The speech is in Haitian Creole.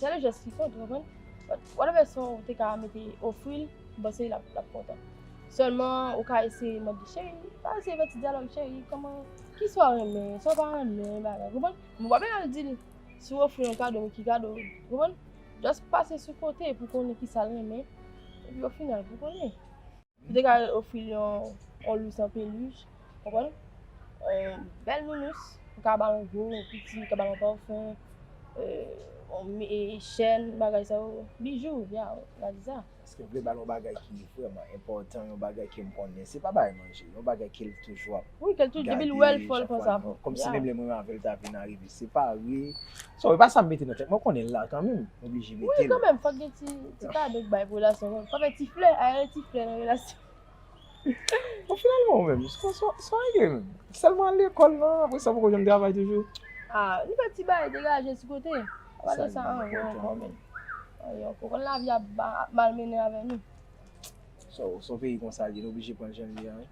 Sèl jès ki kont ou konprann. Whatever son ou te ka mete ofri l, m panse l ap kontan. Sèlman ou ka eseye mande cheri, pa eseye fè ti dyalòg cheri kòman kisa w renmen, sa w pa renmen bagay konprann. Men w pa bezwen al di l si w ofri l yon kado men ki kado ou konprann. Just pase sou kote pou konnen kisa l renmen epi o final pou konnen. Ou te ka ofri l yon lous an peluch, konprann? Yon bèl nounous, ou ka ba l yon gwo, yon piti, ou ka ba l yon pafon, yon chèn, bagay sa yo, bijou, ya, ou ka di sa. Eske ou vle ba l yon bagay ki vrèman enpòtan, yon bagay ke m konnen, se pa bagay manje, yon bagay ke l toujou ap gade chak fwa l vin, kòmsi menm lè mwen avè l ta vin arive separe. So e pa sa m mete nan tèt mwen, m konnen l la kanmenm, m oblije mete l. Wi kanmenm fòk gen ti kado k bay pou relasyon an. Fòk gen ti flè, a rele ti flè nan relasyon. Bon finalman ou menm, sa w regle menm? Sèlman al lekòl nan, apresa ou poko janm travay toujou? A, nou fè ti bagay degaje sou kote. Apa de sa anyen ankò menm. Anyen ankò. Ou konn lavi ap malmennen avè nou. So se yon peyi konsa l ye, nou oblije pran l jan l ye a wi.